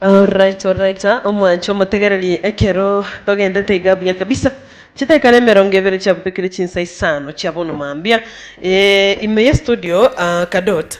Alright alright ah omwanche omotegereri ekero togendete iga buya kabisa chidakika nemerongo ebere chiabutekire chinsa isano chia bono mambia. Ime ye studio kadot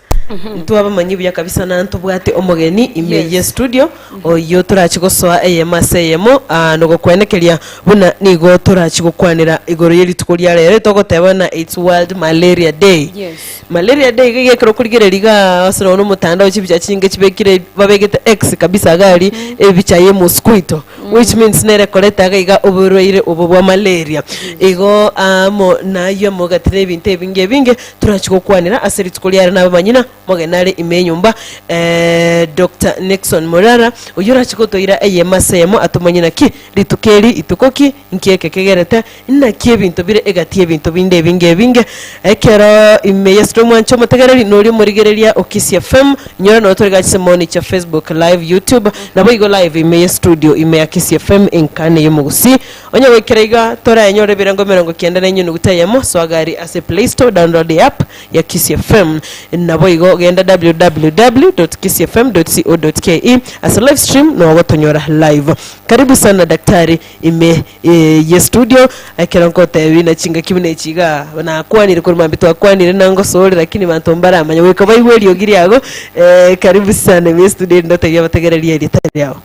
ntwabamanyi buya kabisa na ntobwate omogeni ime Yes. ye studio oyio torachi gosoa eyemo ase eyemo ah, nogokwenekeria buna nigo torachi gokwanera igoro ye rituko ria rero togoteba na its world malaria day Yes. malaria day iga iga ekero okorigereria igaa ase nonya na omotandao chibicha chinyinge chibekire babegete x kabisa iga aria ebicha ye mosquito Which means nere koreta iga iga oborwaire obo bwa malaria. Igo amo nayio amogati na ebinto ebinge ebinge torachi gokwanera ase rituko riare na abamanyina, omogeni are ime enyomba eeh Doctor Nickson Murara oyio orachi gotoira eyemo ase eyemo atomanye naki rituko eri ituko ki, Inki eke kegerete? Naki ebinto bire egati y'ebinto binde ebinge ebinge. Ekero ime yesire omwancha omotegereri, nori omorigereria o Kisii FM. Inyora noro tore gachise moni chia Facebook live, YouTube, naboigo live ime ye studio ime ya Kisii FM Inkani ey'omogusii. Onye goikera iga, toraenyore ebirengo emerongo kenda na enyunuguta eyemo, soa gari ase Play Store download eapp ya Kisii FM. Naboigo genda www.kisiifm.co.ke ase live stream nogotonyora live. Karibu sana Daktari. Ime ye studio ekero nkotebi na chingaki buna echi iga nakwanire korwa mambia twakwanire na ngosore lakini banto mbaramanya goika baigwe eriogi riago eh, karibu sana ime ye studio erinde otebi abategereri erieta riao.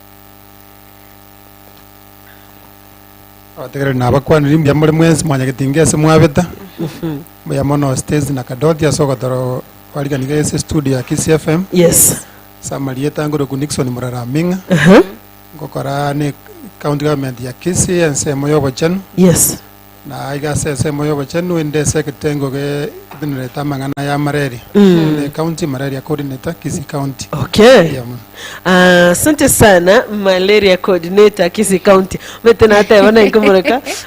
Abategereri nabakwanire mbuya more mwensi mwanyagete inga ase mwabeta mbuya mono Stacy na Kadoti ase ogotoro kwarigani iga ase studio ya Kisii FM Yes. ase amarieta ngorokwa Nixon Murara Aming'a Aha. Ngokora ne county government ya Kisii ensemo y'obochenu, Yes. na aiga ase ensemo y'obochenu inde ase ekitengo getenerete amang'ana ya malaria. Mm. Ne county malaria coordinator Kisii county. Okay. Eya mono. Ah, Asante sana malaria coordinator Kisii County. Mete nateba naye nkomoroka.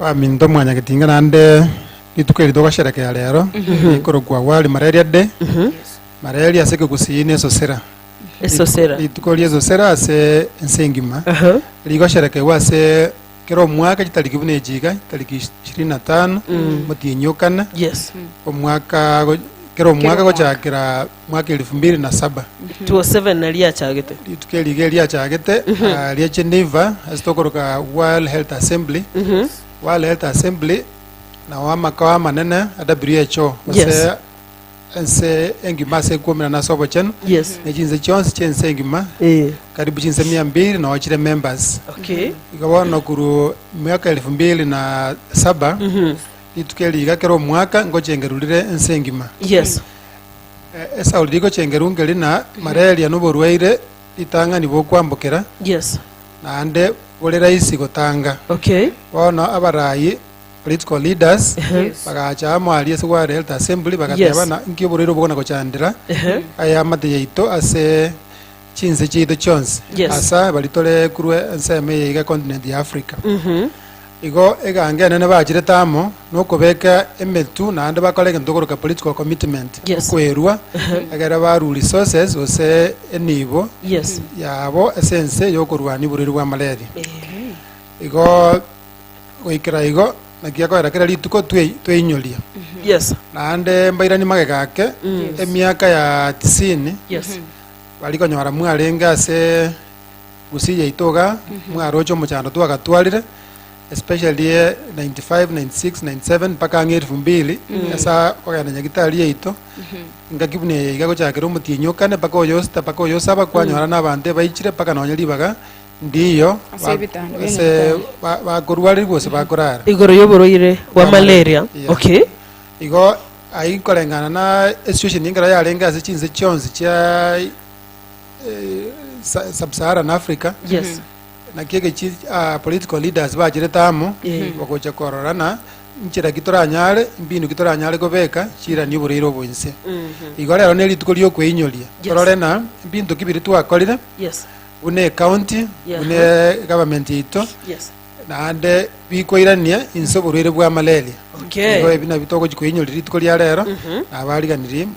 Baminto mwanyagetinga naende rituko eri togosherekea rero, rikorokwa World Malaria Day, malaria ase ekegusii na esosera. Esosera. Rituko ria esosera ase ense engima Aha. rigosherekeiwa ase kera omwaka chitariki buna echi iga, tariki ish- ishirini na tano, omotienyi o kane, Yes. omwaka go- kera omwaka omwaka. gochakera mwaka elifu mbiri na saba. 207 na riachagete Rituko eri iga riachagete ah, ria Geneva ase tokoroka World Health Assembly World Health Assembly nao amakao amanene a WHO Yes. ase ense engima ase ekwomera na ase obochenu yes ne chinse chionsi chiense engima eh karibu chinse mia mbiri nao chire members okay iga bono korwa miaka elifu mbiri na saba Rituko eri iga kera omwaka ngochengeru rire ense engima. Yes. Eh, Esauli rigochengeru ngeri na malaria noborwaire ritang'ani bokwambokera, Yes. naende bore raisi gotanga. Okay. Bono abarayi, political leaders, Yes. bagacha amo aria ase World Health Assembly bagateba Yes. na nki oborwaire obo bogona gochandera Ehe. aya amate yaito ase chinse chiaito chionsi Yes. ase aye bari tore kurwa ensemo eye iga econtinent ya africa igo egange enene bachirete amo nokobeka emetu naende bakora egento tokoroka political commitment Yes. okwerwa egere baru resources gose enibo Yes. yabo ase ense yokorwania oborweri bwa malaria igo goikera igo naki akoera kera rituko twe- tweinyoria Yes. naende mbairani magega ake emiaka ya tisini Yes. Bari konyora mwarenge ase Gusii yaito iga, mwaroche omochando twagatwarire, especially eh, 95, 96, 97 mpaka ang'e elfu mbili, ase kogenda Nyagitari yaito, engaki buna eye iga gochakera omotienyi o kane mpaka oyo osita mpaka oyo osaba, kwanyora na abanto ebaichire mpaka nonye ribaga ndiyo Ase ba- ebitanda bia ase Nyagatari. ba- bakorwarire gose bakorara. Igoro y'oborwaire bwa malaria. Yeah. Okay. Igo Ai koreng'ana na esituesheni ekero yarenge ase chinse chionsi chia Sub-Saharan Africa, Yes. naki egechi political leaders bachirete amo bagocha kororana nchera ki toranyare, mbinu ki toranyare kobeka chirani oboreire obo inse. Igo rero ne rituko riokweinyoria torore na mbinto ki biria twakorire Yes. buna ecounty, Yes. buna egovernment yaito, Yes. Naende bikoirania inse oborwaire bwa malaria. Okay. Igo ebi nabio togochi koinyoria rituko ria rero, na abariganirie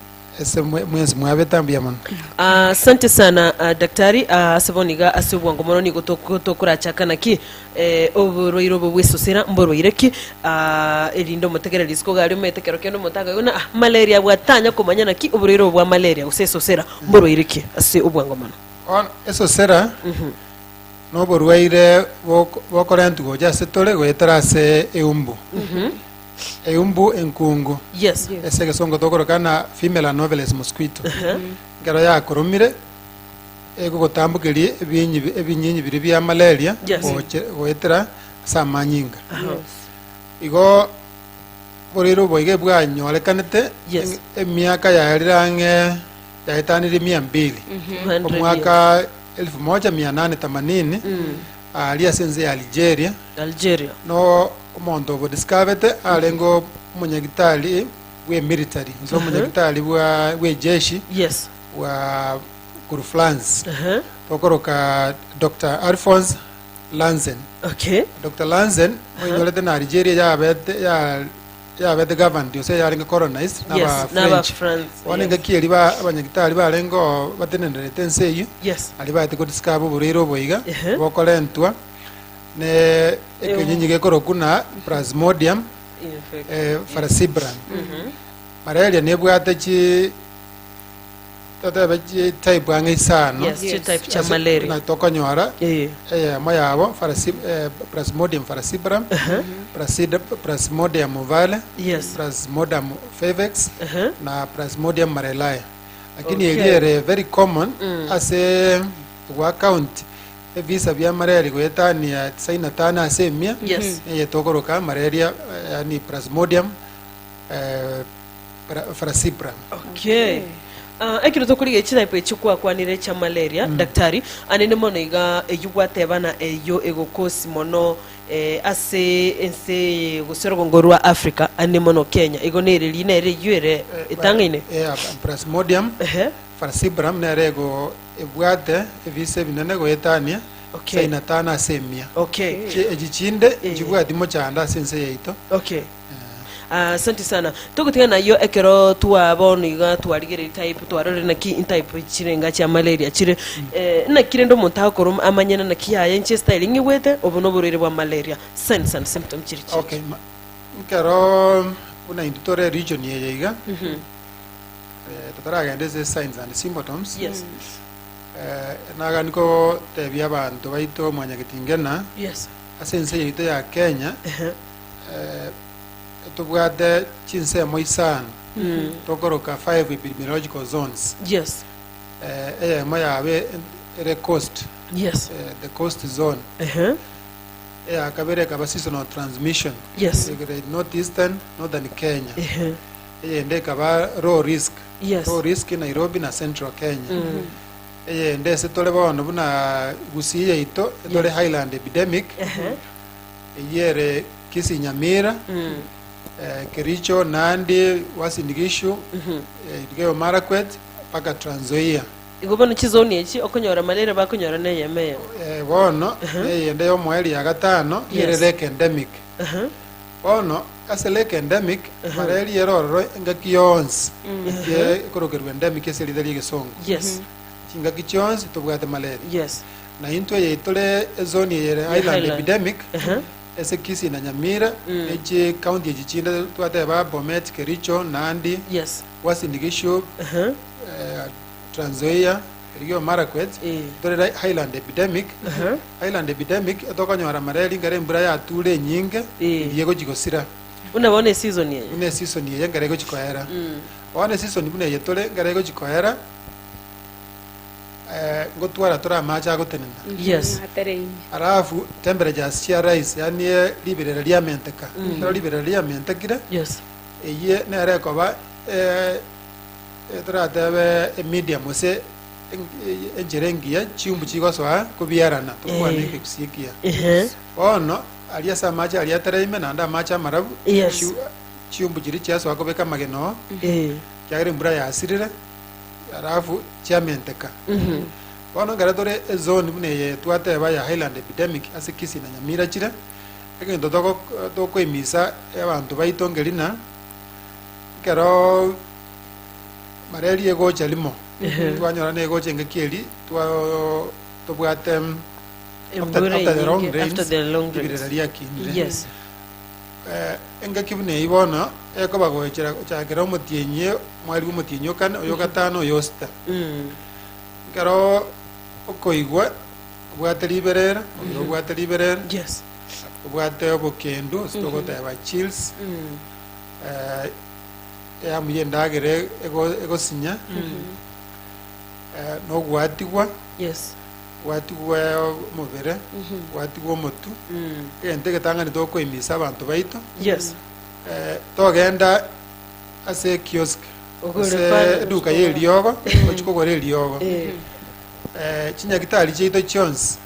ase mwe- mwensi mwabete ambuya mono. Ah, Asante sana ah, daktari ah, ase bono iga ase obwango mono nigo tok- tokorachaka naki eh, oborwaire obo bwesosera mborwaire ki ah, erinde omotegere risiko iga aria omanyete kero kende omonto akoigwa buna, "Ah, malaria abwo atanya komanya naki oborwaire obo bwa malaria gose esosera mborwaire ki ase obwango mono Bono esosera noborwaire bok- bokorentu gocha ase tore goetera ase eumbu eumbu enkungu Yes. ase egesongo tokorokana female anoveles mosquito ekero yakoromire egogotambokeria ebinyi bi- ebinyinyi biria bia malaria Yes. goche- goetera ase amanyinga igo boreiro boiga ebwanyorekanete Yes. emiaka yarire ang'e yaetanirie mia mbiri 200 omwaka 1880 aaria ase ense ya Algeria, Algeria. na omonto o Bodiscavete arenge omonyagitari bw'emilitary, inse omonyagitari bwa- bw'ejeshi Yes. bwa korwa France. Ehe. Tokoroka Dr. Alphonse Lanzen. Okay. Dr. Lanzen oinyorete na Algeria yabete ya Yabete governed yonsi eye yarenge colonized na Yes, aba n'aba French. French, Bono yes. engaki eri ba- abanyagitari barenge oo batenenderete ense eyio Yes. ari baete godiscover oboreire oboiga Ehe. bokorentwa ne ekenyinyi gekoroku na plasmodium Infect- eh, falciparum malaria nebwate chi Totebe chi type ang'e isano. Yes, chi Yes. type chia Ase malaria. buna tokonyora Eh. eyemo yabo Pharasi- eh, plasmodium falciparum Plasida- plasmodium ovale Yes. plasmodium favex Aha. na plasmodium malaria lakini Okay. eri ere very common ase gwa county ebisa bia malaria goetania tisaini na tano ase emia Yes. eye tokoroka malaria eh, yani plasmodium eh, Pra- Frasibra. Okay. Ah, ekero tokorigia echitype echi kwakwanire chia malaria daktari anene mono iga eyio gwateba na eyio egokosi mono eh, ase ense eye gose orogongo rwa africa anene mono kenya igo nere rina ere eyio ere etang'aine Eh, ah, Plasmodium Ehe. falciparum nere ego ebwate ebise ebinene goetania Okay. saina tano ase emia okay Chi- echi chinde Eh. nchibwati mochando ase ense yaito okay Asanti sana. Togotiga nayio ekero twa bono iga twarigereiri type twarorire naki intype chire enga chia malaria chire. Eh, naki rende omonto agokora om- amanye na naki yaye inche style ng'igwete obo noborwaire bwa malaria. Signs and symptoms chire chiaye. Okay, ma- nkero buna intwe tore region eye iga eh, totaragenda ase signs and symptoms Yes. eh, nagani kotebia abanto baito mwanyagetingena Yes. ase ense yaito ya kenya Ehe. Tobwate chinsemo isano tokoroka five epidemiological zones. Yes. Eh, eyemo yabe en- ere coast, Yes. eh, the coast zone. Ehe. Eya kabere ekaba seasonal transmission. Yes. Egere northeastern, northern Kenya. Ehe. Eyende ekaba low risk. Yes. Low risk Nairobi na central Kenya. Eyende ase tore bono buna Gusii yaito etore Yes. highland epidemic. Ehe. Eyio ere Kisi-Nyamira, eh, Kericho, Nandi, Uasin Gishu, eh, Elgeyo Marakwet, mpaka Trans Nzoia. Igo bono chizoni echi okonyora malaria bakonyora neyemo eyemo. Eh, bono neyende y'omoeri ya gatano ere Yes. lake endemic. Aha. Bono ase lake endemic malaria ere ororo engaki yonsi ye ekorokerwa endemic ase erinde ri'egesongo. Yes. Chingaki chionsi tobwate malaria. Yes. Na intwe eye tore ezoni eyere Island Island. Epidemic, Ehe. ase Kisii na Nyamira, ne chi county echi chinde twateba Bomet, Kericho, Nandi, Yes. Uasin Gishu, Ehe. eh, Trans Nzoia, erigiyo Marakwet, Eh. tore ra Highland epidemic. Ehe. Highland epidemic etokonyora mara eri ngare embura yature enyinge, Eh. eri egochi gosira. Buna bono esizoni eye. Buna esisoni eye ngare egochi koera. Bono esisoni buna eye tore ngare egochi koera, eh, ngotwara tore amache agotenena Yes. Atereine. alafu temperatures chia rise yani eh, riberera riamenteka ekero riberera riamentekire Yes. eye nere ekoba eh, eh, toratebe emedium ase en- eh, enchera engiya chiumbu chigosoa kobiarana tokwana Eh. ekegusii ekiya Ehe. bono ari ase amache aria atereime naende amache amarabu Yes. chiu- chiumbu chiri chiasoa kobeka amagena oo Eh. kiagera embura yasirire Alafu chiamenteka bono ekero tore ezone buna eye twateba ya highland epidemic ase kisii na nyamira chire egento toko tokoimisa abanto baito ngerina ekero mareri egocha rimo twanyora na egocha engaki eri twao tobwate Embura after the long eyinge, rains, after the long rains. ribirira riakinire Yes. Engaki buna eyio bono ekoba goechera gochakera omotienyi mwaribu omotienyi o kane, oyo gatano, oyo osita. Ekero okoigwa obwate riberera, oyo obwate riberera, Yes. obwate obokendu, ase togoteba chills, eh, eyamu y'endagera ego- egosinya, eh, na ogwatigwa. Yes. gwatigwe omobere, gwatigwe omotu, egento egetang'ani tokoimisa abanto baito, Yes. eh, togenda ase ekiosk Ogore ase pale, eduka ya eriogo gochi kogora eriogo Eh. Eh, chinyagitari chiaito chionsi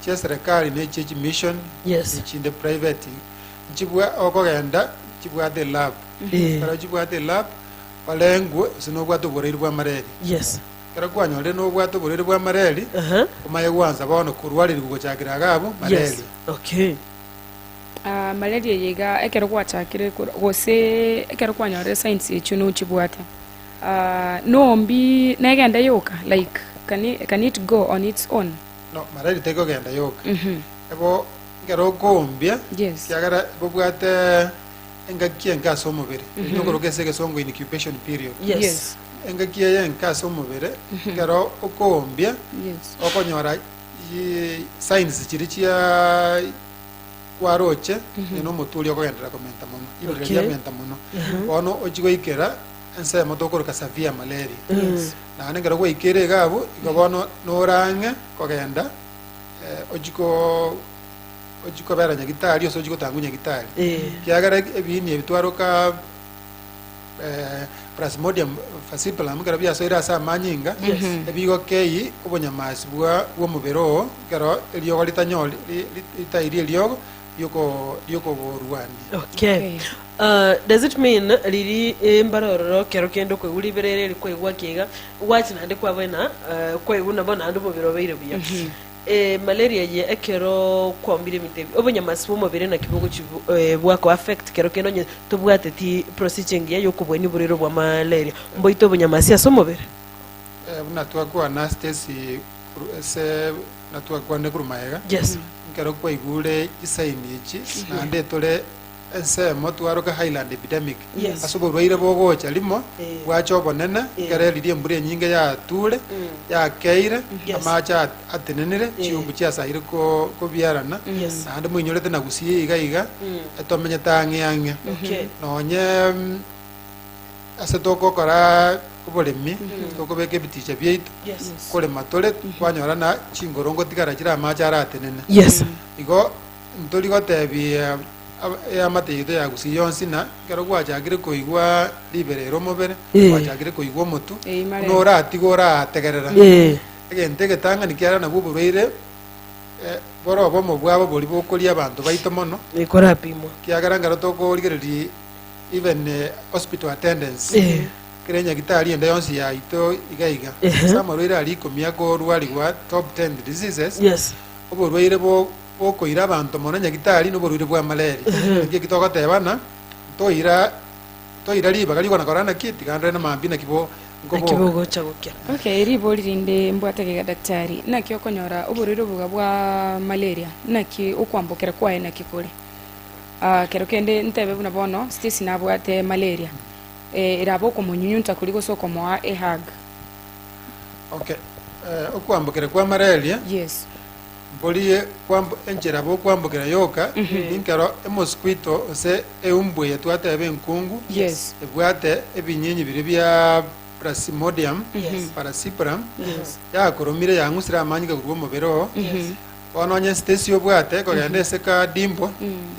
chia serikali na echie chimission Yes. echinde private nchibwa okogenda chibwate elab Eh. ekero chibwate elab orengwe gose nobwate oborairi bwa malaria Yes. Ekero kwanyorire nobwato borere bwa Mareli, Aha. omaye gwansa bono korwa Areli gochakera Agabu, Yes. Mareli. Okay. Ah, malaria eye iga ekero gwachakire kor- gose ekero kwanyorire signs echio nochibwate Ah, nombi negenda yoka like can it, can it go on its own No, Mareli tekogenda yoka. Mhm. Ebo, ekero okombia, yes kiagera bobwate Engaki enke ase omobere ni okoroka ase egesongo incubation period. Yes. Engaki eye enke ase omobere ekero okoombia Yes. okonyora i- signs chiria chia kwaroche eh, na omotu oria okogenderera komenta mono ibere Okay. riria riamenta mono bono ochia goikera ensemo tokoroka severe malaria Yes. naende ekero gwaikire iga abwo igo bono norang'e kogenda eh, ochia ko Ochie kobera nyagitari gose ochie gotang'u nyagitari, ekiagera eg- ebiini ebi twaroka eh, Plasmodium falciparum ekero biasoire ase amanyinga, Yes. ebigo kei obonyamasi bwa bw'omobere oo ekero eriogo ritanyori ri- ri- ritari eriogo rioko riokoborwania. Okay. Uh, does it mean riri embara ororo kero kende okoigwa riberere eri kwaigwa kiga gwachia naende kwabena uh, kwaigwa nabo naende omobere obeire buya Emalaria eye ekero kwaumire emitebi, obonyamasi bw'omobere naki bogochi bwa ko affect kero kende onye tobwateti procedure engiya y'okobuania oborwaire bwa malaria mboite obonyamasi ase omobere. Eh, buna twakwana Stacy koru- ase buna twakwanire korwa magega Yes. ekero kwaigure chisaini echi Yes. naende tore Ensemo twaroke Highland Epidemic Yes. ase oborwaire bogocha rimo Eh. bwacha obonene Eh. ekero eriria embura enyinge yatuure yakeire Yes. amaache at- atenenire Eh. chiumbu chiasaire ko- kobiarana Yes. naende moinyorete na gusii iga iga etomenyete ang'e ang'e Okay. nonye mm, ase togokora oboremi tokobeka ebiticha biaito Yes. korema tore kwanyora na chinkorongo tigara chire amaache aratenene Yes. igo Ntori goteebia eamate yaito ya Gusii yonsi, na ekero gwachakire koigwa ribera ere omobere, gwachakire koigwa omotu, buna oratigwe orategerera. Egento egetang'ani kiarero nabwo oborwaire bore obomo bwabo boria bokoria abanto baito mono, ekiagera ekero tokorigereria even hospital attendance, kera enyagitari ende yonsi yaito iga iga, ase amarwaire aria ikomi akorwarigwa top ten diseases, oborwaire bo. bw'okoira abanto mono nyagitari noborwaire bwa malaria. Naki eki togoteebana? Ntoira ntoira ribaga rigokwana kora naki? Tiga ndore namambia naki bo Naki nkoboka. bogocha gokia. Ok, ribori rinde mbwate gega daktari, naki okonyora oborwaire obo iga bwa malaria, naki okwambokera kwaye naki kore? Ah, kero kende ntebe buna bono Stacy nabwate malaria, eh, erabe okomonyunyunta koria gose okomoa ehug. Ok, eh, okwambokera kwa malaria Yes. Mporie kwamb- enchera bokwambokera yoka, ninkero emosquito gose eumbu eyetwate ebe enkungu, Yes. ebwate ebinyinyi biria bia Plasmodium, Yes. Paracyprum, Yes. yakoromire yang'usire amanyinga korwa omobere oo, Yes. bono onye Stacy obwate kogenda ase kadimbo,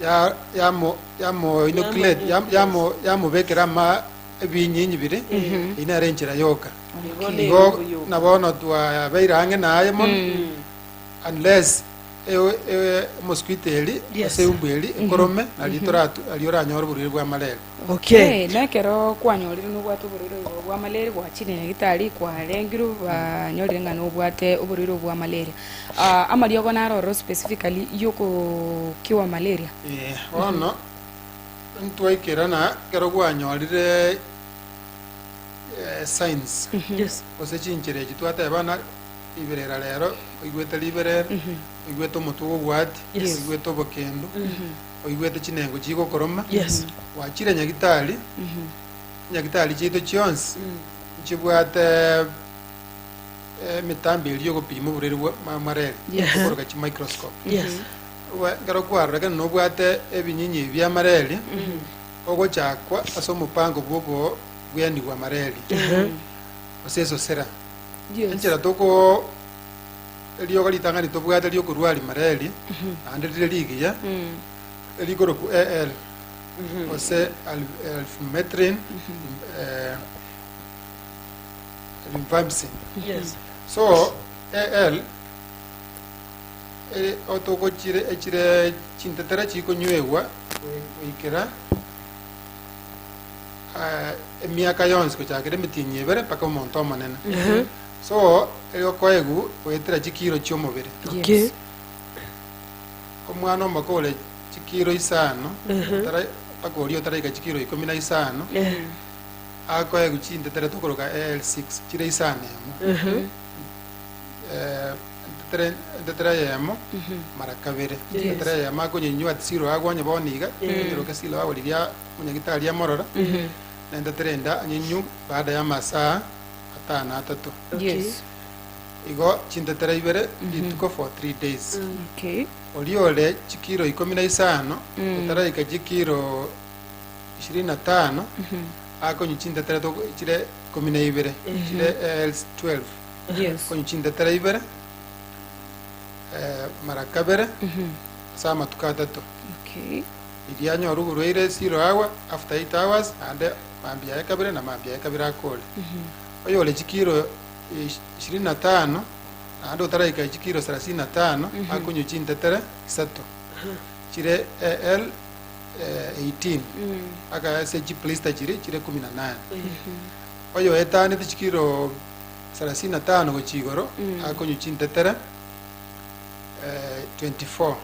ya- yamo- yamo inoculate, yam- yamo- yamobekera ama ebinyinyi bire, eyio nere enchera yoka. Nigo nere Igo oboyoko. na bono twabeire ang'e naye mono, unless ewe- ewe mosquito eri, Yes. ase eumbu eri ekorome, nari toratu- nari oranyore oborwaire bwa malaria. Okay. Eh, na ekero kwanyorire nobwate oborwaire obo bwa malaria gwachire nyagitari kwarengirwe banyorire ng'a nobwate oborwaire obo bwa malaria Ah, amariogo naro ororo specifically yokokiwa malaria Eh, bono Ntwaikera na ekero gwanyorire eh, signs Yes. gose chinchera echi twateba na riberera rero oigwete riberera oigwete omotwe gobwati Yes. oigwete obokendu oigwete chinengo chigokoroma Yes. gwachire nyagitari nyagitari chiaito chionsi nchibwate eh, emitambo eria yogopima oboreri bwa ma- mareri Yes. okoroka chimicroscope Yes. Oboe, ekero kwarorekana nobwate ebinyinyi bia mareri, ogochakwa ase omopango bw'okobuyanigwa mareri, gose esosera. Yes. Enchera toko eriogo ritang'ani tobwate riokoruari mareri, naende rire rigiya, erikorokwa AL, gose al- alphametrin, eh, rifampicin. Yes. So AL otogochire echire chintetera chikonywegwa goikera ah, emiaka yonsi gochakera emitienyi ebere mpaka omonto omonene so eri okoegu goetera chikiro chi'omobere Okay. omwana omoko ore chikiro isano otara- mpaka oria otaraika chikiro ikomi na isano Eh, akoegu chintetera tokoroka l6 chire isano emo Eh, Entera entera eyemo, mara kabere. Yes. Entera eyemo akonyenywa at zero agwo onye bono iga, anyeroke esilo agorigia omonyagitari amorora, na entera ende anyenywe baada ya amasaa atano atato. Okay. Yes. Igo chintetera ibere rituko for three days. Okay. Oria ore chikiro ikomi na isano gotaraika chikiro ishirini na tano akonywa chintetera toko- chire ikomi na ibere chire L12. Yes. konywa chintetera ibere eh, mara kabere Mhm. ase amatuko atato Okay. riria anyore oborwaire zero hour after 8 hours naende mambia yaye kabere na mambia yaye kabere akore Mhm. oyore chikiro eh, ishirini na tano naende otaraika chikiro sarasini na tano Mhm. akonywa chintetere isato chire al eh, 18 Mm. akaesia chiplista chiri chire kumi na nane Mhm. oyo etanete chikiro thelathini na tano gochia igoro akonywa chintetere eh, 24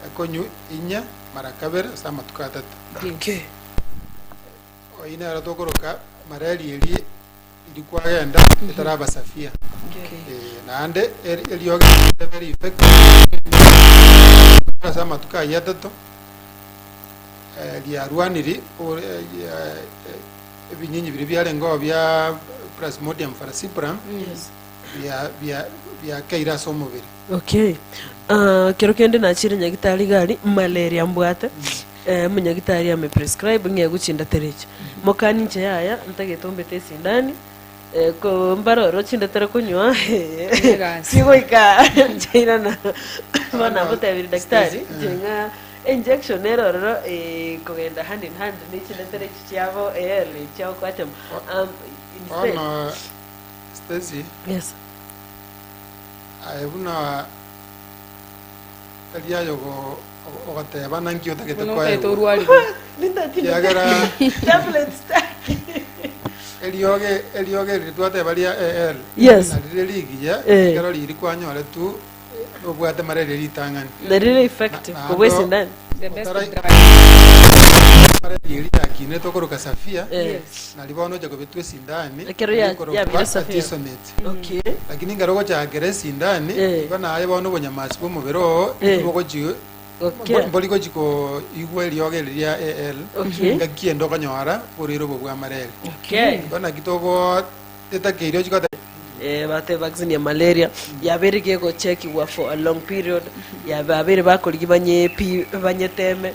akonywa inye mara kabere ase amatuko atato Ake. oyi nero tokoroka mareri eri eri kwagenda etarabasafia Eh, naende eri- eriogi rebe rifeke ase amatuko ayio atato eh, riarwaniri ore- eh, eh, ebinyinyi biria biarengeo bia Plasmodium falciparum Yes. bia- bia- biakeire ase omobere. Okay. Ah, kero kende nachire nyagitari gari malaria mbwate eh, munyagitari ame prescribe ng'egwe chindaterechi mokani nche yaya ntagete ombete esindani Mbaroro chinde tore konywa chi goika nchaira na bono nabotebirie daktari nchire ng'a injection nere ororo ekogenda hand in hand ne chinde tore echi chiabo early chia okwatema um, instead Bono Stacy, yes aye buna Tari aye ogoteeba, Naki otagete koegwa? Ekiagera eriogi eri twateba ria EL, narire rigiya, ekero riiri kwanyoretwe nobwate mararia ritang'ani, naende mararia eria yakinetwe korwa kasafia, nari bono oche kobetwa esindani, ekorokwa Artesunate. Lakini ekero ogochaakera esindani, igo naye bono obonyamasi bw'omobere oo nigo bogochia, mbori gochia koigwa eriogo eri ria AL, ngaki ende okonyora boruya robo bwa mareri. Igo naki togoteta keria ochia goteba. Bateba vaccine ya malaria yabeire gegochekigwa for a long period, yabeire bakorigia banye pi, banyeteme.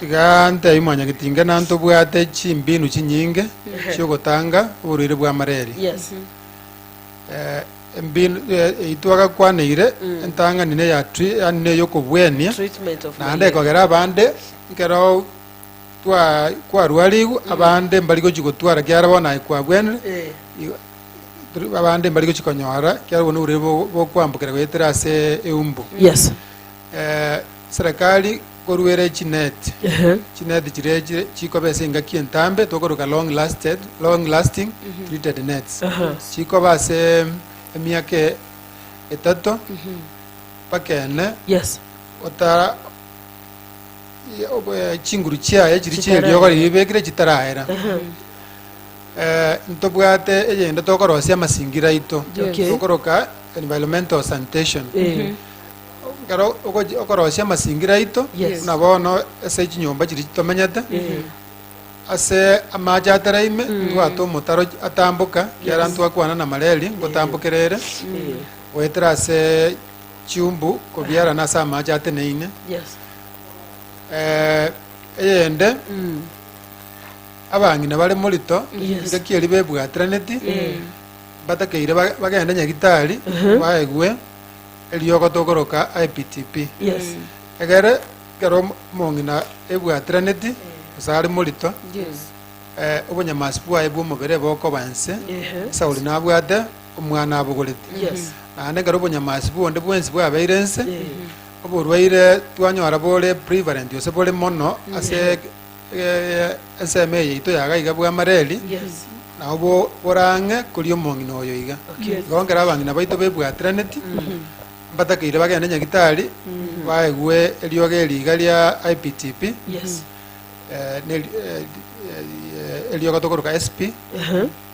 Tiga ntebie mwanyangi ati, ing'ana ntobwate chimbinu chinyinge Ehe. chi'ogotanga oborwaire bwa malaria. Yes. Eh, embinu eh, eyio twagakwaneire entang'ani neya tri- yani neyokobwenia Treatment of naende malaria. ekogera abande nkero twa- kwarwarigwe abande mbari gochi gotwara kiara bono aye kwabwenire Eh. Igo- turi- abande mbari gochi konyora kiara bono oborwaire bo- bokwambukera goetera ase eumbu Yes. Serekari koruere chineti, chineti chiria echi chikoba ase engaki entambe tokoroka long lasted, long lasting treated nets. Chikoba ase emiaka e- etato mpaka ene Yes. otara ye- obo- eh, chinguru chiaye chiri Chitaraera. chieriogo riria ebekire chitaraera. Eh, ntobwate eyende tokorosia amasingira aito Okay. tokoroka environmental sanitation. Eh. Ekero ogochi- okorosia amasingira aito, Yes. buna bono ase chinyomba chiria chitomenyete, ase amache atera ime, ntwate omotaro ch- atamboka, kiara ntwakwana na malaria, ngotambokera ere, goetera ase chiumbu kobiarana ase amache ateneine. Yes. Eh, eyende, abang'ina bare morito, Yes. ngaki eria bebwatiraneti, mbatakeire ba- bagende nyagitari, baegwe, Eriogo togoroka IPTP. Yes. Egere ekero omo- omong'ina ebwatiraneti gose are morito Yes. eh, obonyamasi bwaye bw'omobere bokoba ense Ehe. Sauli nabwate omwana abogorete Yes. naende ekero obonyamasi bonde bwensi bwabeire ense Eh. oborwaire twanyora bore prevalent gose bore mono ase Ensemo eye yaito yaga iga bw'amareri, nao borang'e koria omong'ina oyo iga. Igo ekero abang'ina baito bebwatiraneti, mbatakeire bagende nyagitari, baegwe eriogi eri iga ria IPTP, eriogo tokoroka SP,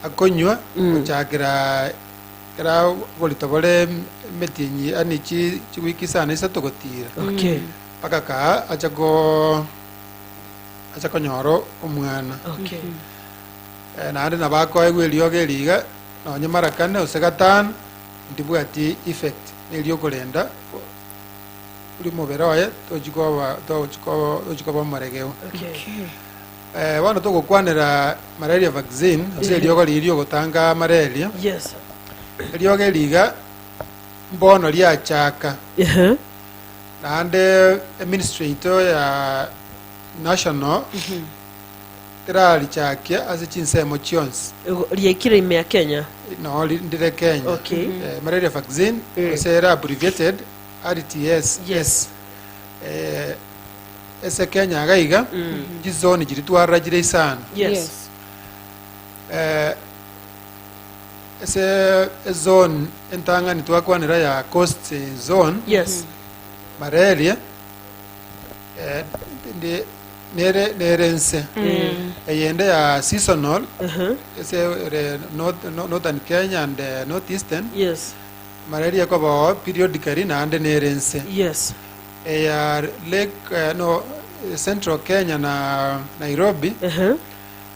akonywa gochakera ekero oborito bore emetienyi yaani chi chiwiki isano isato gotiira, mpaka kaa ache ko. ache konyora o- omwana. Okay. Eh, naende nabo akoegwa eriogo eri iga nonye mara kane gose gatano ndibwati effect neriokorenda o- ori omobere oye tochi koba tochi ko- tochi koba omoregeu Okay. Okay. Eh, bono togokwanera malaria vaccine gose Ehe. eriogo riria riogotanga malaria Yes. eriogo eri iga mbono riachaka Ehe. Naende eministry yaito ya national terarichakia ase chinsemo chionsi. Igo riaikire ime ya Kenya. No, ri- ndire Kenya. Okay. Eh, malaria vaccine, Eh. ase ere abbreviated RTS. Yes. Eh, ase Kenya iga iga, chizoni chiri twarora chire isano. Yes. Eh, Ase ezone entang'ani twakwanera ya coast zone Yes. malaria eh, ndi- nere nere nse eyende ya seasonal Uh-huh. ese ere north, no- northern kenya and eh, north eastern Yes. malaria ekobao periodically naende nere nse Yes. eya lake eh, no eh, central kenya na nairobi Uh-huh.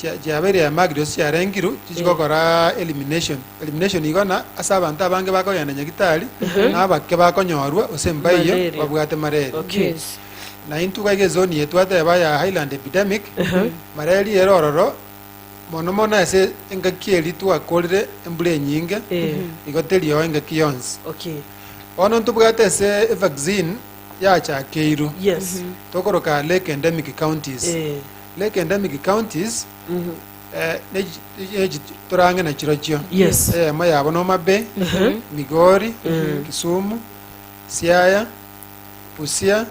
chia- chiabeire ya Magdeos chiarengirwe chichi gokora elimination elimination igo na ase abanto abange bakogenda nyagitari na abake bakonyorwa gose mbaiyo Malaria. babwate mareri Okay. Yes. na intwe iga iga ezoni yetu twateba ya highland epidemic mareri ere ororo mono mono ase engaki eri twakorire embura enyinge Eh. igo teriogo engaki yonsi Okay. bono ntobwate ase evaccine yachakeirwe Yes. tokoroka lake endemic counties Eh. Lake and Emigi Counties, eh, torange na chirochio Yes. eyemo yabo na Homa Bay, Migori, Kisumu, Siaya, Busia,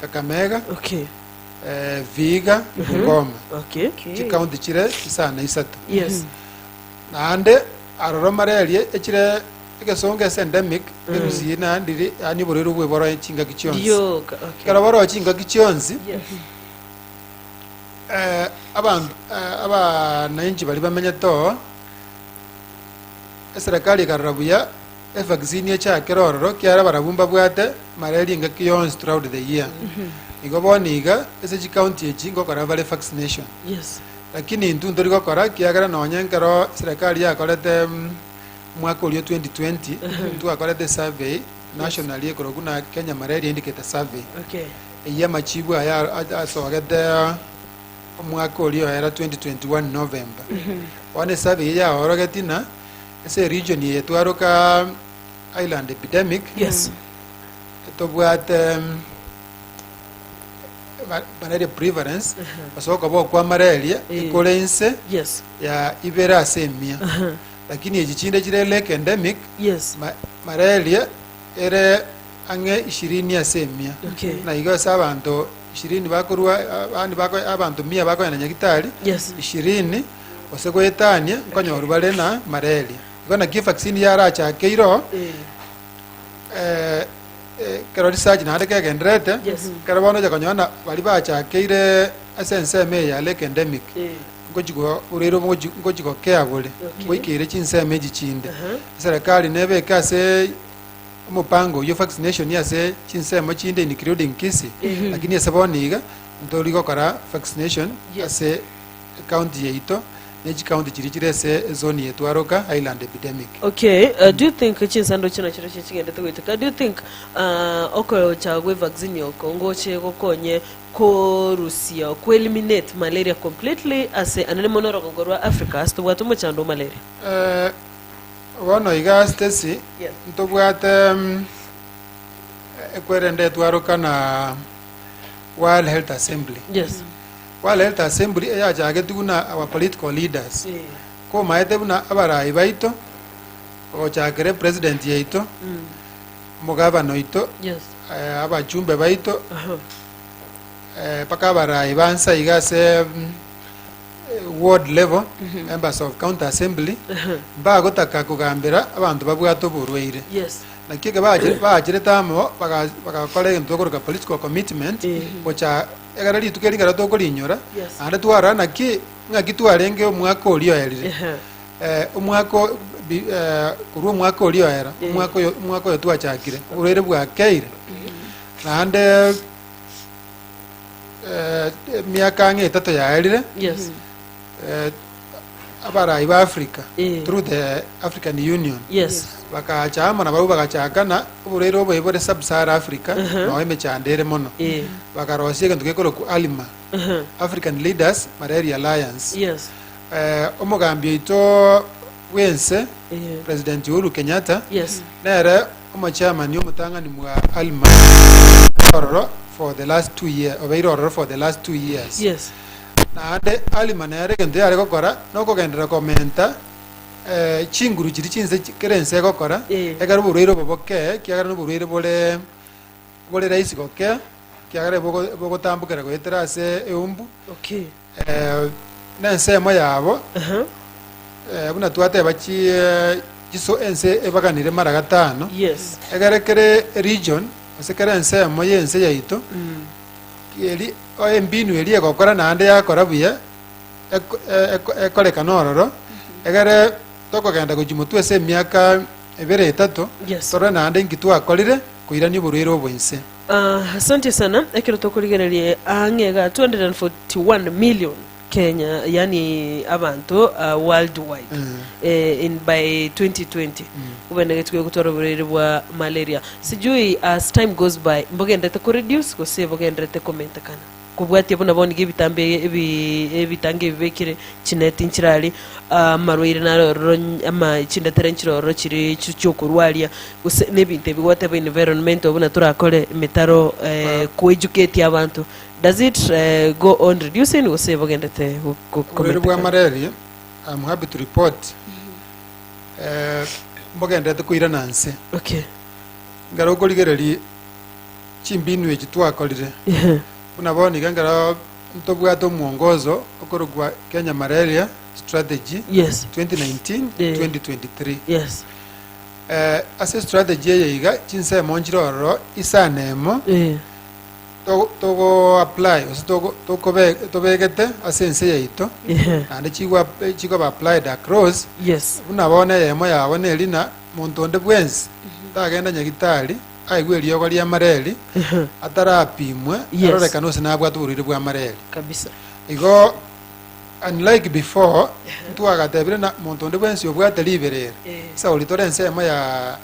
Kakamega, Okay. eh, Vihiga, Bungoma. Okay. Chikaunti chire isano isato. Yes. Naende aroro malaria echire egesongo ase endemic erusi na ndiri yani oborero bwe boro chingaki chionsi. Rioka. Okay. Ekero boro chingaki chionsi Yes. eh, abanto eh, abanainchi baria bamenyete oo eserekari ekarora buya evaccine echakere ororo kiara barabwo mbabwate malaria engaki yonsi throughout the year igo bono iga ase chikaunti echi ngokora bare vaccination Yes. lakini intwe ntori gokora kiagera nonye nkero serikali yakorete mm, mwaka orio 2020 twakorete survey nationally ekoroku na kenya malaria indicator survey Okay. Eyio amachiibu aya asogete omwaka oria o era 2021 November. Bono esabe eyio yaorogeti na ase eregion eye twaroka Island epidemic. Yes. Tobwate banaria prevalence gose okoba okwa malaria ekore inse Yes. ya ibere ase emia. Lakini echi chinde chire lake endemic. Yes. Malaria ere. ang'e ishirini ase emia, na igo ase abanto ishirini bakorua abande bako abanto mia bakoenda Nyagitari Yes. ishirini gose goetania nkonyorwa bare na malaria. Igo naki evaccine yarachake iro eh, eh, kero research naende kegenderete Yes. kero bono ocha konyora na bari bachakeire ase ensemo eye yare ependemic Eh. ngochi go- oreire ngochi ngochi gokea bore Okay. ngoikeire chinsemo echi chinde Aha. eserekari nebeke ase Omopango oywo vaccination ase chinsemo chinde including Kisii, lakini ase bono iga ntori gokora vaccination ase ecounty yaito ne chicounty chiria chire ase ezone yaito Aroka Highland epidemic. Okay, uh, do you think chinsando chino chiro chie chigendete goiteka? Do you think uh, okocha gwe vaccine oko ngoche gokonye korusia ku eliminate malaria completely ase anene mono orogongo rwa Africa ase tobwate omochando o malaria? Eh, Bono iga Stacy, ntobwate mm, ekwerende twaroka na World Health Assembly. Yes. World Health Assembly eyachageti buna our political leaders Eh. komaete buna abarayi baito gochakere president yaito Mm. omogabana oito Yes. eh, abachumbe baito Aha. eh, mpaka abarayi bansa iga ase mm, ward level, members of county assembly, mbagotaka kogambera abanto babwate oborwaire. Yes. Naki eke bache- bacherete amo baga- bagakora egento tokoroka political commitment Eh. gocha egere rituko eri ekero tokorinyora Yes. naende twarora naki ng'aki twarenge omwaka oria oerire Ehe. Eh, omwaka o- bi- eh, korwa omwaka oria oera Eh. omwaka oyo omwaka oyo twachakire oborwaire bwakeire naende eh, emiaka ang'e etato yaerire Yes. eh, abarai ba africa Eh. through the african union Yes. bakacha amo nabau bagachakana oborwaire oboe bore sub-sahara africa Mhm. nao emechando ere mono Eh. bakarosia egento gekoroku alima Uh-huh. african leaders malaria alliance Yes. Eh, omogambi oito bw'ense Eh. president uhuru kenyatta Yes. nere Omochairman omotang'ani mwa Alma obeire ororo for the last two year obeire ororo for the last two years. Yes. Naende Alma nere egento yare gokora nokogenderera komenta eh, chinguru chiria chinse chi- kera ense egokora Eh. ekero oborwaire obo bokee kiagera noborwaire bore bore rahisi gokea kiagera bogo- bogotambokera goetera ase eumbu Okay. nensemo yabo, buna twateba chi chiso ense ebaganire mara gatano, Yes. egere kere region gose kere ensemo y'ense yaito eri o embinu eria egokora naende yakora buya eko- e- eko- ekorekana ororo, egere tokogenda gochia motwe ase emiaka ebere etato Yes. torore naende inki twakorire koirania oborwaire obo inse. Aah asantie sana ekero tokorigereria ang'e iga 241 million Kenya yaani abanto ah, worldwide eh, in by 2020 obenegetwe gotwara oborwaire bwa malaria sijui as time goes by mbogenderete koreduce gose bogenderete komentekana Kobwatia buna bono nigo ebitambo ebi- ebi- ebitango ebibekire chineti nchirari ah, amarwaire narororo ny- ama chindatera nchirororo chiri chi- chiokorwaria gose nebinto ebi whatever environmental buna torakore emetaro eh, kwejuketie abanto does it eh, go on reducing gose bogendete go- go- oborwere kometekana? bwa malaria am happy to report eh, mbogendete koirana nse okay ngero okorigereria chimbinu echi twakorire, buna bono iga ekero ntobwate omwongozo okorokwa Kenya Malaria Strategy Yes. 2019-2023. Yes. Eh, ase estrategy eye iga chinsemo nchire ororo isano emo Eh. to- togoapply gose togo- tokobe- tobegete ase ense yaito Ehe. naende chigwa- chigoba applied across Yes. buna bono eyemo yabo nerina monto onde bwensi tagenda nyagitari aigwe eriogo ri'amareri Ehe. atarapimwe Yes. arorekane gose nabwate oborwaire bw'amareri kabisa igo unlike before ntwagatebire na monto onde bwensi obwate ribere ere Eh. sa oritore ensemo ya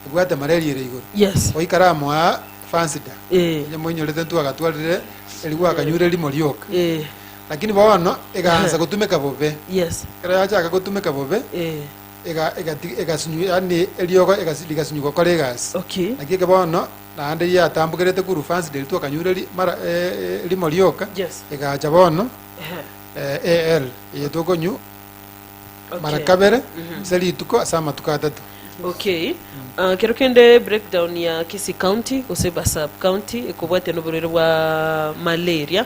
ebwate mareri ere igoro yes oikare amo aa fansida Eh. onye moinyorete ntwagatwarire eri gwakanyure rimo rioka Eh, lakini bono egaansa gotumeka bobe yes ekero yachaka gotumeka bobe eh, ega egati egasinyu yaani eriogo egasi rigasinyu gokora egasi. Okay. Naki eke bono naende riatambokerete korwa fansi de rituo kanyure ri mara eh, eh, rimo rioka Yes. egacha bono Ehe. eh, AL eyetwa okonyu Okay. mara kabere ase rituko ase amatuko atato. Okay. Ah, kero kende breakdown ya Kisii County gose ba sub county ekobwate noborwaire bwa malaria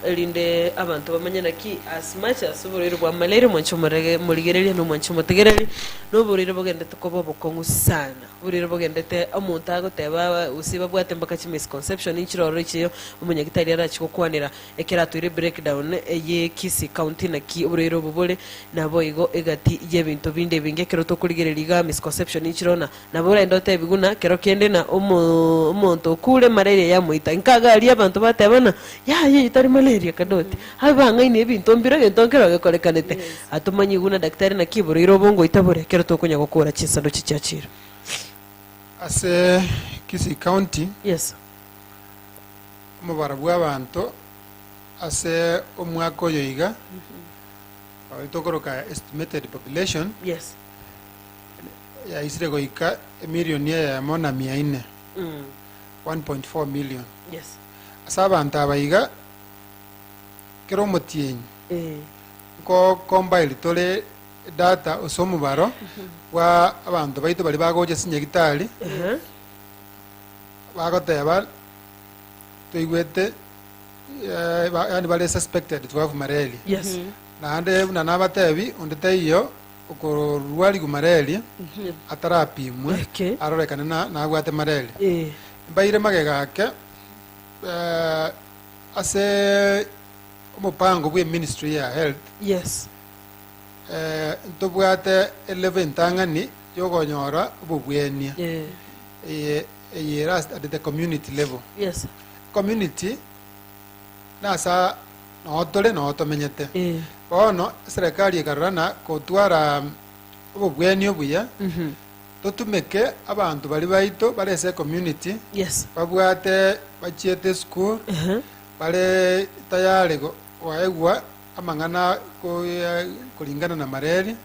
erinde abanto bamanye naki as much as oboraire bwamaleire omwancha omorege morigereria, na omwancha omotegereri, na oboraire bogendete koba obokong'u sana, oboraire bogendete omonto agoteba gose babwate mpaka chi misconception nchiroro echiyo omonyagitari arachie gokwanera ekero atoire break down eye Kisii county naki oboraire obo bore naboigo egati yebinto binde ebinge ekero tokorigereria igaa misconception nchiroro na Nabo orende otebi buna kero kende na omonto okure malaria yamoita. Inka iga aria abanto batebana, Yaya eyi tari malaria kadoti. Abe bang'aini ebinto mbire egento nkere ogekorekanete. Atomanyie buna daktari naki iboroire obongoita bore ekero tokonya gokora chinsanduchi chia chiro. Ase Kisii County, Yes. omobaro bw'abanto ase omwaka oyo iga, oyotokoroka estimated population, Yes. yaisire goika emilioni eyemo na mia ine, 1.4 million. Yes. Ase abanto aba iga, kera omotienyi Eh. nkocombile tore edata ase omobaro bwa abanto baito baria bagocha chinyagitari Ehe. bagoteba toigwete eh, ba- yaani bare suspected to have malaria Yes. naende buna nabatebi onde taiyo Okororua riguma reria atarapimwe Eke. arorekane na nabwate mareri. Ee. Mbaire magega ake eh, ase omopango bwe ministry ya health Yes. eh, ntobwate elevo entang'ani yogonyora obobwenia Ee. eye eye ere ast- at the community level Yes. community Nasa noo tore, noo tomenyete. Bono eserekari ekarora na gotwara obobwenia obuya, totumeke abanto baria baito bare ase ecommunity, babwate bachiete esukuru, bare tayari koegwa amang'ana koringana na mareri,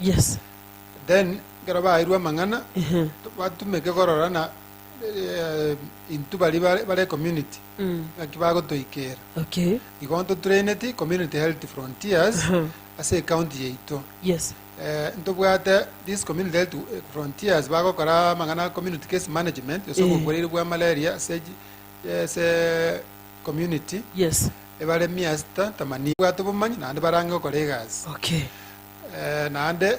then ekero baeirwe amang'ana, batumeke korora na. intwe baria bare bare ecommunity naki bagotoikera Okay. igo ntotraineti community health frontiers Aha. ase ecounty yaito Yes. Eh, ntobwate this community health eh, frontiers bagokora amang'ana community case management ase Eh. obokoreri bwa malaria ase ji- ase community Yes. ebare mia sita tamani bwate obomanyi naende barang'e gokora egasi Okay. Eh, naende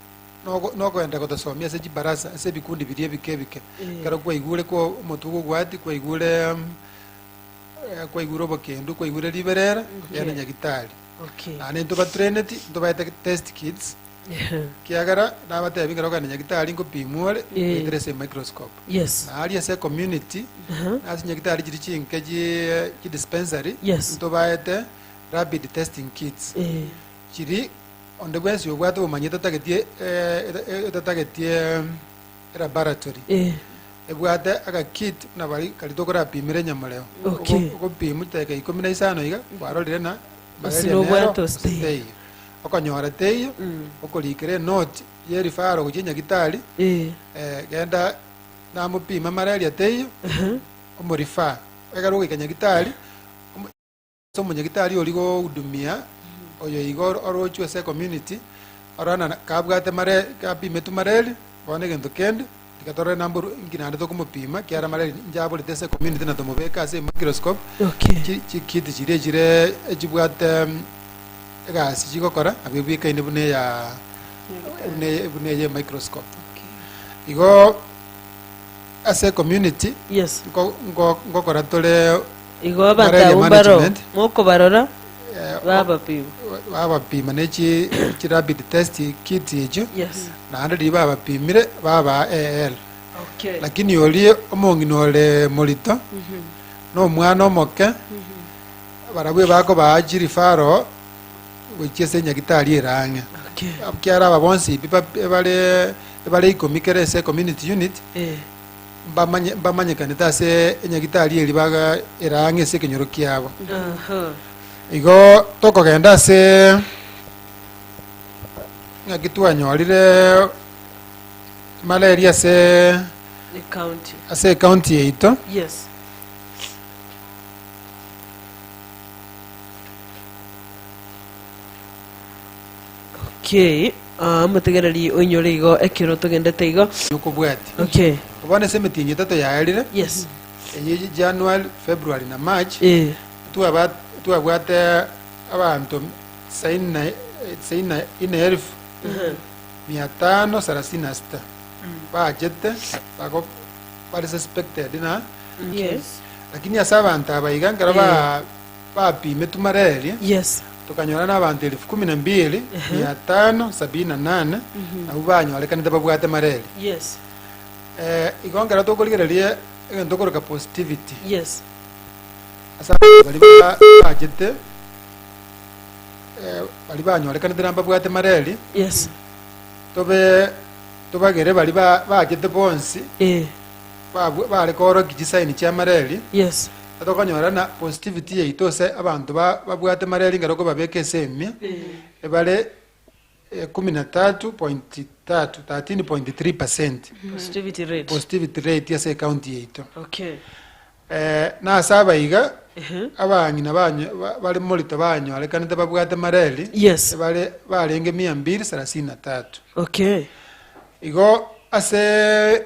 nogo- nogoenda gotasomia ase chibarasa, ase ebikundi biria ebike ebike. Ekero kwaigure kwa omotuko obwati, kwaigure mm, eh, kwaigure obokendu, kwaigure riberera, yaani Okay. nyagitari. Okay. Naende intobatraineti, ntobaete test kits, kiagera nabatebi ngero okogenda nyagitari nkopimwa ore, Eh. ngoetere ase emicroscope. Yes. Na aria ase ecommunity, Aha. ase nyagitari chiri chinke chi- chidispensary, Yes. ntobaete rapid testing kits. Eh. Chiri Onde bwensi obwate obomanyi etatagetie etatagetie elaboratory ebwate agakit buna bare kare tokorapimera enyamoreo. Ogo ogopimu chidakika ikomi na isano iga kwarorire na malaria nero gose teiyo. Okonyora teiyo okorikera enoti ye referral gochia nyagitari genda namopime malaria teiyo omo refer ekero ogoika nyagitari. Ase omonyagitari oria gohudumia oyo iga orochwe ase ecommunity, ora na kabwate mare kapimetwe mareri, bono egento kende, reka torore number oru- inki naende tokomopima, kiara mareri inche aborete ase ecommunity na tomobeke ase emicroscope, Okay. chi chikiti chiria chire echibwate egasi chigokora nabo ebwekaine buna eya buna eye buna eye emicroscope. Igo ase ecommunity Yes. nko- nko- nkokora tore. Igo abatabu mbaro mokobarora babapima. Babapima ne chi chi rapid test kits echio. Yes. Naende riria babapimire babaa AL. Okay. Lakini oria omong'ina ore morito nomwana omoke barabwo bakobaa chirifaro gochia ase nyagitari ere ang'e. Okay. Kiara aba bonsi ebiba- ebare ebare ikomi kere ase community unit Eh. mbamanye- mbamanyekanete ase enyagitari eribaga ere ang'e ase ekenyoro kiabo. Igo tokogenda ase ng'aki twanyorire malaria ase The county. ase ecounty yaito Yes. Okay, ah, motegereri oinyore igo ekero togendete igo. yokobwati Okay, bono ase emitingi etato yaerire yes. eye ye january february na march Eh, twaba- twabwate abanto tisaini na- tisaini na ine elfu mia tano sarasini na sita baachete bago- bare suspected na okay. lakini ase abanto aba iga nkero Eh. ba Bapime tumara eria, Yes. tokanyora n'abanto elifu kumi na mbiri, mia tano sabini na nane, nabwo banyorekanete babwate mareri. Yes. Eh, igo nkero tokorigereria egento okoroka positivity Yes. ase abanto baria ba- baachete eh, baria banyorekanete na mbabwate mareri, Yes. tobe tobagere baria ba- baachete bonsi Eh. babw- bare koorokia chisaini chi'amareri, Yes. Tokonyora na positivity yaito ase abanto ba babwate mareri ngero kobabeka ase emia ebare ekumi na tatu point tatu, thirteen point three percent, Positivity rate. positivity rate ase ecounty yaito. Okay. na ase aba iga, Ehe. abang'ina banyo- ba- bare morito banyorekanete babwate mareri Yes. ebare barenge mia mbiri sarasini na tatu. Okay. Igo ase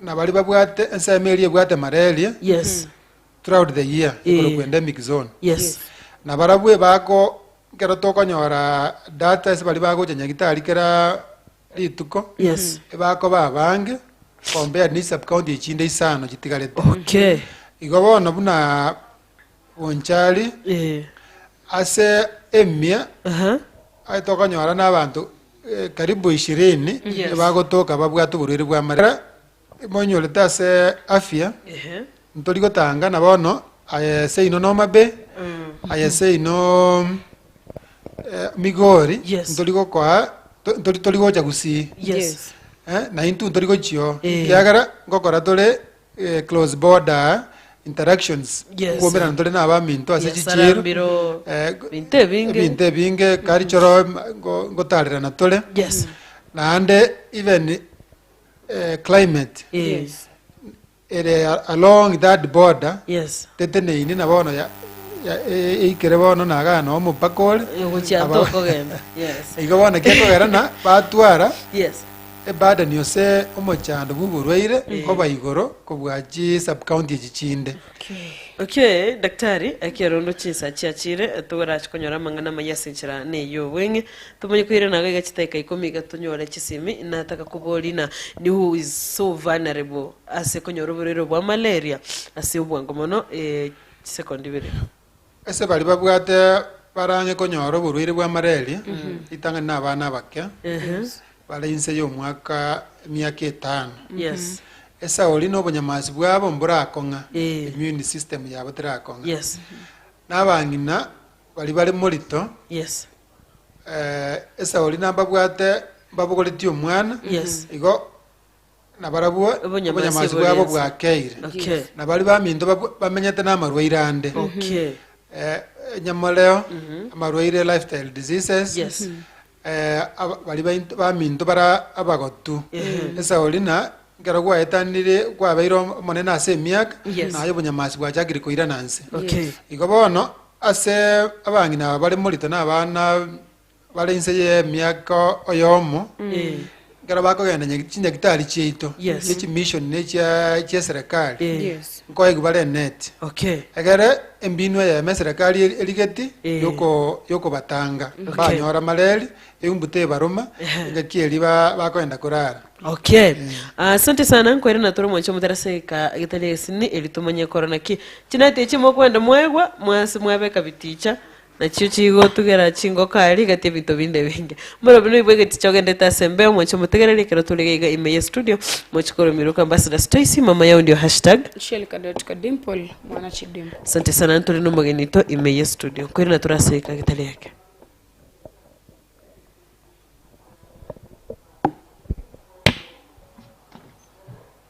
Na baria babwate ensemo eria ebwate malaria Yes. throughout the year Eh. igoro kwenda emic zone. Yes. Na barabwo ebako ekero tokonyora data ase baria bagocha nyagitari kera rituko. Yes. Ebakoba abange compared ne sub county echinde isano chitigarete. Okay. Igo bono buna onchari Eh, ase emia aha. aye tokonyora na abanto eh, karibu ishirini Yes. bagotoka babwate oborwaire bwa marera monyorete ase afya Ehe. ntori gotanga na bono aye seino nomabe Mm. aye seino eh, migori Yes. ntori gokoa to- ntori tori gocha gusii Yes. Eh, na intwe ntori gochio Eh. kiagera ngokora tore eh, close border interactions Yes. kwomerana ntore na abaminto ase Biasara chichiiro mbiro, eh, go- binto ebinge. ebinto ebinge kari choro ma- ngo- ngotarerana tore Yes. naende even eh, climate Eh, ere a- along that border Yes. teteneini na bono ya- ya- e- eikere bono nagana omopaka ore Ogochia Aba- ntokogenda. Yes. igo bono kiakogerana batwara Yes. Ebada niose omochando bw'oborwaire oba igoro kobua chi sub county echi chinde. Okay daktari, ekero rende chinsa chiachire, torache konyora amang'ana amayia ase enchera ne y'obweng'e. Tomanye koirana iga iga chidaeka ikomi iga tonyore chisemi. Nataka koboria na ni who is so vulnerable ase konyora oborwaire obwa malaria ase obwango mono, eh, chisekondi ibere. Ase baria babwate barang'e konyora oborwaire bwa malaria, ritang'ani na abana abake bare inse y'omwaka emiaka etano. Yes. Esauri na obonyamasi bwabo mborakong'a, Eh. immune system yabo terakong'a. Yes. Na abang'ina baria bare morito, Yes. eh, esauri nababwate mbabogoretie omwana, Yes. igo na barabwo Obonyamasi obonyamasi bwabo bw'oborense. bwakeire, Okay. na baria baminto babw- bamenyete namarwaire ande, Okay. eh, enyamoreo, amarwaire lifestyle diseases, Yes. eh, aba- baria bainto- baminto bara abagotu. Esauri na nkero gwaetanire gwabeire om- omonene ase emiaka, Yes. naye obonyamasi bwachakire koirana nse. Okay. Igo bono ase abang'ina aba bare morito na abana Bare inse y'emiaka oyomo, ekero bakogenda nyak- chinyaktari chiaito, Yes. ne chimission ne chia chiaserekari, Eh. Yes. nkoigwa bare net. Okay. Egere embinwa eyemo eserekari eri- erigeti Eh. yoko yokobatanga Okay. banyora mareri eumbu tebaruma Ehe. engaki eri ba- bakogenda korara Okay. Ah, Asante sana nkwere na toro mwancho mutera seka getari esini eri tumanye koro naki. Chinati echi mokwenda mwaigwa mwase mwabeka biticha Nachio chigotugera chingoka, rigati ebinto binde binge. Moro buna oibwe egeti chogendete ase embeo, moche motegerere ekero tore iga iga ime ye studio, moche korumiroka Ambassador Stacy, mama ya ondio hashtag. Shelka dot ka dimple mwana chidimple. Asante sana ntore nomogeni oito ime ye studio. Nkoirana tore ase eka getari eke.